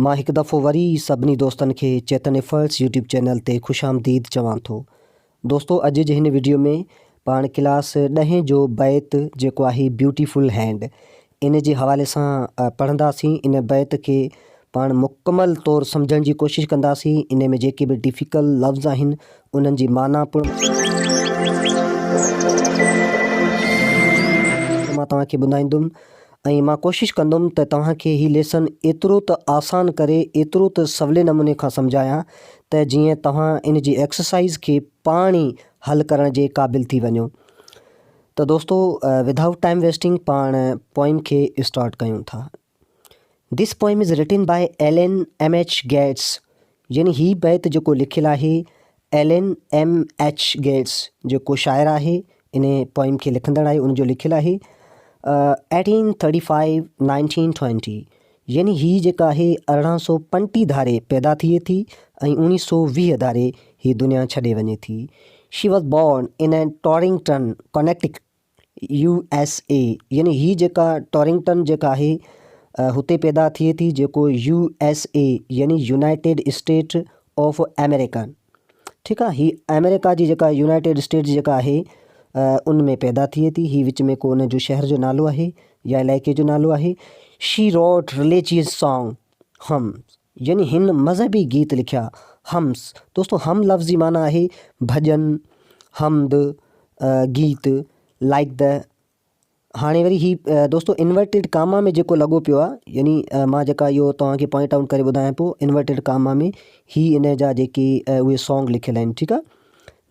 مان هڪ دفعو وري سڀني دوستن کي چيتن ايفرٽس يوٽيوب چينل تي خوش آمديد چوان ٿو. دوستو اڄ جي هن وڊيو ۾ پاڻ ڪلاس ڏهين جو بيت جيڪو آهي بيوٽي فل هينڊ ان جي حوالي سان پڙهنداسين ان بيت کي پاڻ مڪمل طور سمجهڻ جي ڪوشش ڪنداسين ان ۾ جيڪي به ڊفيڪل لفظ آهن انهن جي معنيٰ پڻ مان توهان کي ٻڌائيندم ۽ مان ڪوشش ڪندم ته توهان کي هي ليسن ايترو ته آسان ڪري ايترو ته سولي نموني کان سمجهايان ته جيئن توهان ان جي ايڪسرسائيز کي پاڻ ئي حل ڪرڻ جي قابل ٿي وڃو ته دوستو ود آئوٽ ٽائم ويسٽنگ پاڻ پوئم کي اسٽارٽ ڪيون ٿا this poem is written by L N M H Gates يعني هي بيت جيڪو لکيل آهي ايلن ايم ايڇ گيٽس جيڪو شاعر آهي ان پوئم کي لکندڙ آهي ان جو لکيل آهي eighteen thirty five nineteen twenty يعني هي جيڪا آهي ارڙهن سو پنٽي ڌاري پيدا ٿئي ٿي ۽ اوڻي سو ويهه ڌاري هي دنيا ڇڏي وڃي ٿي she was born in Torrington Connecticut U S A يعني هي جيڪا ٽارنگٽن جيڪا آهي هتي پيدا ٿئي ٿي جيڪو يو ايس اي يعني يونائيٽيڊ اسٽيٽ آف آمريڪا ٺيڪ آهي هي آمريڪا جي جيڪا يونائيٽيڊ اسٽيٽ جيڪا آهي ان ۾ پيدا ٿئي ٿي هي وچ ۾ ڪو ان جو شهر جو نالو آهي يا علائقي جو نالو آهي شي روٽ رليجيس سانگ هم يعني هن مذهبي گيت لکيا. حمس، دوستو حم لفظ جي معنيٰ آهي ڀڄن، حمد، گيت، لائيڪ دي. هاڻي وري هي دوستو انورٽيڊ ڪاما ۾ جيڪو لڳو پيو آهي يعني مان جيڪا اهو توهان کي پوائنٽ آئوٽ ڪري ٻڌايان پيو انورٽيڊ ڪاما ۾ هي ان جا جيڪي اهي سانگ لکيل آهن ٺيڪ آهي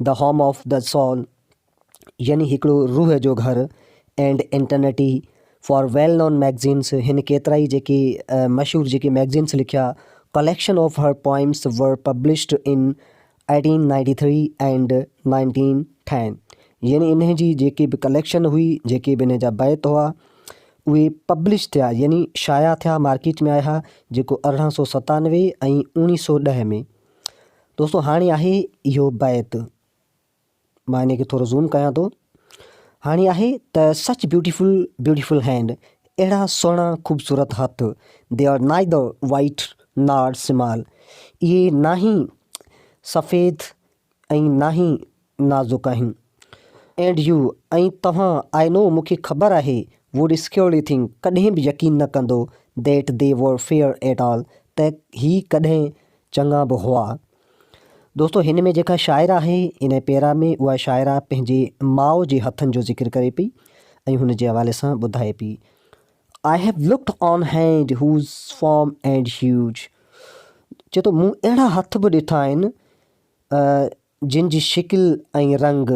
The Home of the Soul. يعني هڪڙو روح جو گهر اينڊ انٽرنيٽي فار ويل نون ميگزينس هن ڪيترائي جيڪي مشهور جيڪي ميگزينس لکيا collection of her poems were published in eighteen ninety three and nineteen ten يعني انهن جي جيڪي به ڪليڪشن هئي جيڪي به انهن جا بيت هئا اهي پبلش ٿيا يعني شايع ٿيا مارڪيٽ ۾ آيا جيڪو ارڙهن سو ستانوي ۽ اڻيهه سو ڏهه ۾ دوستو هاڻي آهي اهو بيت مان انهي کي ٿورو زوم ڪيان ٿو هاڻي آهي ته سچ بيوٽيفل بيوٽيفل هينڊ اهڙا سهڻا خوبصورت هٿ they are neither white nor small اهي ناهي سفيد ۽ ناهي نازڪ آهن اينڊ يو ۽ توهان آئي نو مون کي خبر آهي ووڊ سڪيورلي ٿنڪ ڪڏهن به يقين نه ڪندو that they were fair at all ته هي ڪڏهن چڱا به هئا. دوستو هن ۾ جيڪا شاعره آهي ان پيرا ۾ اها شاعره پنهنجي ماء جي هٿن جو ذڪر ڪري پئي ۽ هن جي حوالي سان ٻڌائي پئي I have looked on hand whose form and huge چي ٿو مون اهڙا هٿ به ڏٺا آهن جن جي شڪل ۽ رنگ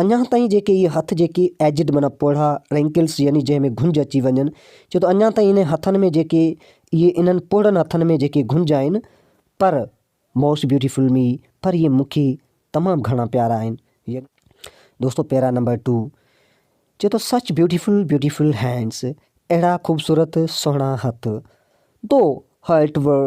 اڃا تائين جيڪي اهي هٿ جيڪي ايجڊ معنيٰ پوڙها، رينڪلس يعني جنهن ۾ گهنج اچي وڃن، چئو ته اڃا تائين انهن هٿن ۾ جيڪي اهي انهن پوڙهن هٿن ۾ جيڪي گهنج آهن پر موسٽ بيوٽيفل مي پر اهي مون کي تمام گهڻا پيارا آهن يعني دوستو پيرا نمبر ٽو چئو ته سچ بيوٽيفل بيوٽيفل هينڊس اهڙا خوبصورت سهڻا هٿ دو هرٽ ور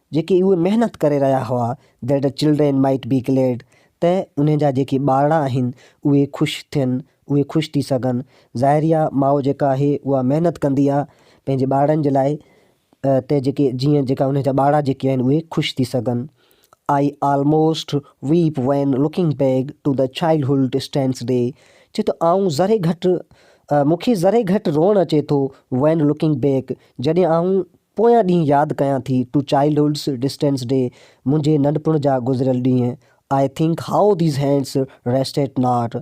جيڪي اهي محنت ڪري رهيا هئا That the children might be glad ته انهن جا جيڪي ٻارڙا آهن اهي خوش ٿين، اهي خوش ٿي سگهن. ظاهريا ماء جيڪا آهي اها محنت ڪندي آهي پنهنجي ٻارڙن جي لاء ته جيڪي جيئن جيڪا انهن جا ٻارڙا جيڪي آهن اهي خوش ٿي سگهن. I almost weep when looking back to the childhood stands day چي ٿو آئون ذري گهٽ مون کي ذري گهٽ روئڻ اچي ٿو When looking back جڏهن آئون پويان ڏينهن ياد ڪيان ٿي ٽو چائلڊهوڊس ڊسٽنس ڊي منهنجي ننڍپڻ جا گذريل ڏينهن I think how these hands rest eight not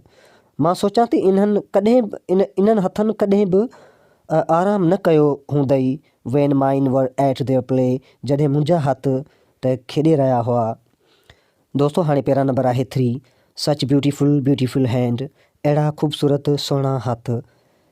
مان سوچان ٿي انهن ڪڏهن انهن هٿن ڪڏهن به آرام نه ڪيو هوندئي when mine were at their play جڏهن منهنجا هٿ ته کيڏي رهيا هئا دوستو هاڻي پيرا نمبر آهي three such beautiful beautiful hand اهڙا خوبصورت سهڻا هٿ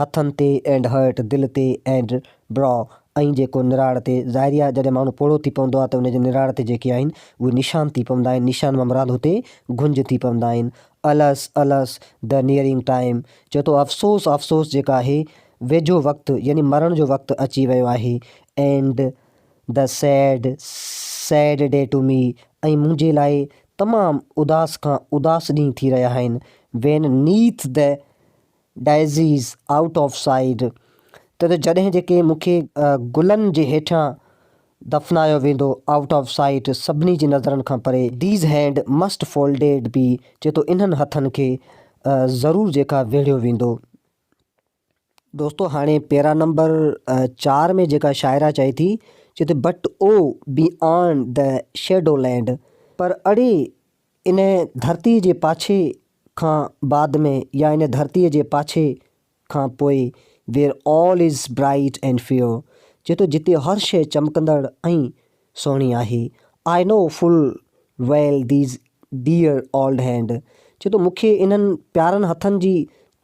هٿن تي اينڊ هرٽ، دل تي اينڊ براء، ۽ جيڪو نراڙ تي، ظاهري آهي جڏهن ماڻهو پوڙهو ٿي پوندو آهي ته ان جي نراڙ تي جيڪي آهن اهي نشان ٿي پوندا آهن، نشان مان مراد هتي گهنج ٿي پوندا آهن. الس! الس! The Nearing Time چئي ٿو افسوس! افسوس! جيڪا آهي ويجهو وقت يعني مرڻ جو وقت اچي ويو آهي. And The Sad، Sad Day to Me، ۽ منهنجي لاء تمام اداس کان اداس ڏينهن ٿي رهيا آهن. When Neath the daisies out of sight ته جڏهن جيڪي مون کي گلن جي هيٺان دفنايو ويندو آئوٽ آف سائيٽ سڀني جي نظرن کان پري. These hand must folded be چئي ٿو انهن هٿن کي ضرور جيڪا ويڙهيو ويندو. دوستو هاڻي پيرا نمبر چار ۾ جيڪا شاعره چئي ٿي چئي ٿي but oh be on the shadow land پر اڙي ان ڌرتيء جي پاڇي کان بعد ۾ يا ان ڌرتيء جي پاڇي کان پوء where all is bright and fair چئي ٿو جتي هر شيء چمڪندڙ ۽ سهڻي آهي I know full well these dear old hand چئي ٿو مون کي انهن پيارن هٿن جي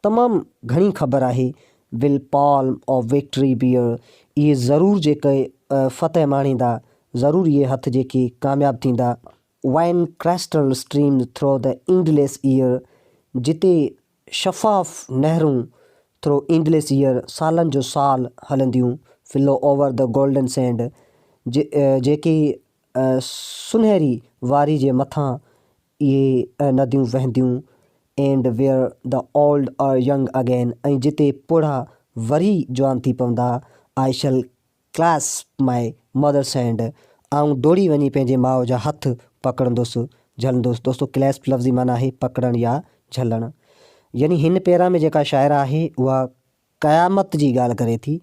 تمام گهڻي خبر آهي will palm of victory bear اهي ضرور جيڪي فتح ماڻيندا ضرور اهي هٿ جيڪي ڪامياب ٿيندا wine crystal streams through the endless year, جتي شفاف نهرون ٿرو اينڊليس ايئر سالن جو سال هلنديون، flow over the golden sand, جيڪي سونهري واري جي مٿان اهي نديون وهنديون، and where the old are young again ۽ جتي پوڙها وري جوان ٿي پوندا، I shall Clasp my mother's hand، آئون ڊوڙي وڃي پنهنجي ماء جا هٿ پڪڙندس، جهلندس. دوستو Clasp لفظ جي معنيٰ آهي پڪڙڻ يا جهلڻ. يعني هن پيرا ۾ جيڪا شاعره آهي اها قيامت جي ڳالهه ڪري ٿي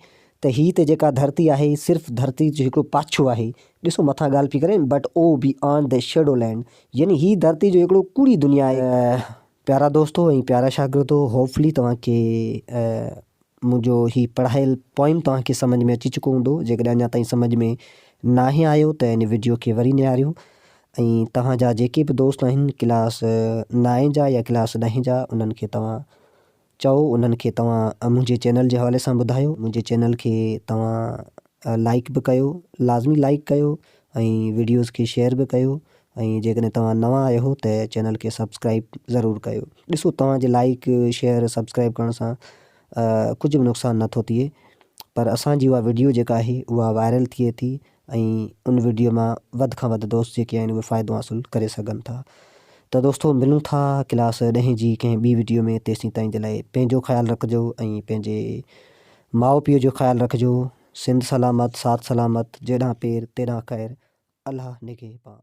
ته هي ته جيڪا ڌرتي آهي هي صرف ڌرتي جو هڪڙو پاڇو آهي. ڏسو مٿان ڳالهه پئي ڪرين But oh beyond the shadow land يعني هي ڌرتي جو هڪڙو ڪوڙي دنيا آهي. پيارا دوستو ۽ پيارا شاگردو هوپ فلي توهان کي منهنجو هي پڙهايل پوئم توهان کي سمجهه ۾ اچي چڪو هوندو جيڪڏهن اڃا تائين سمجهه ۾ ناهي آيو ته هن وڊيو کي وري نهاريو ۽ توهان جا جيڪي به دوست آهن ڪلاس نائين جا يا ڪلاس ڏهين جا انهن کي توهان چئو انهن کي توهان منهنجي چينل جي حوالي سان ٻڌايو منهنجي چينل کي توهان لائيڪ به ڪيو لازمي لائيڪ ڪيو ۽ ويڊيوز کي شيئر به ڪيو ۽ جيڪڏهن توهان نوان آهيو ته چينل کي سبسڪرائيب ضرور ڪيو ڏسو توهان جي لائيڪ شيئر سبسڪرائيب ڪرڻ سان ڪجهه به نقصان نه ٿو ٿئي پر اسان جي اها ويڊيو جيڪا آهي اها وائرل ٿئي ٿي ۽ ان وڊيو مان وڌ کان وڌ دوست جيڪي آهن اهي فائدو حاصل ڪري سگهن ٿا ته دوستو ملون ٿا ڪلاس ڏهين جي ڪنهن ٻي وڊيو ۾ تيسين تائين جي لاء پنهنجو خيال رکجو ۽ پنهنجي ماء پيء جو خيال رکجو سنڌ سلامت ساٿ سلامت جيڏانهن پير تيڏانهن خير الله نگهي پان.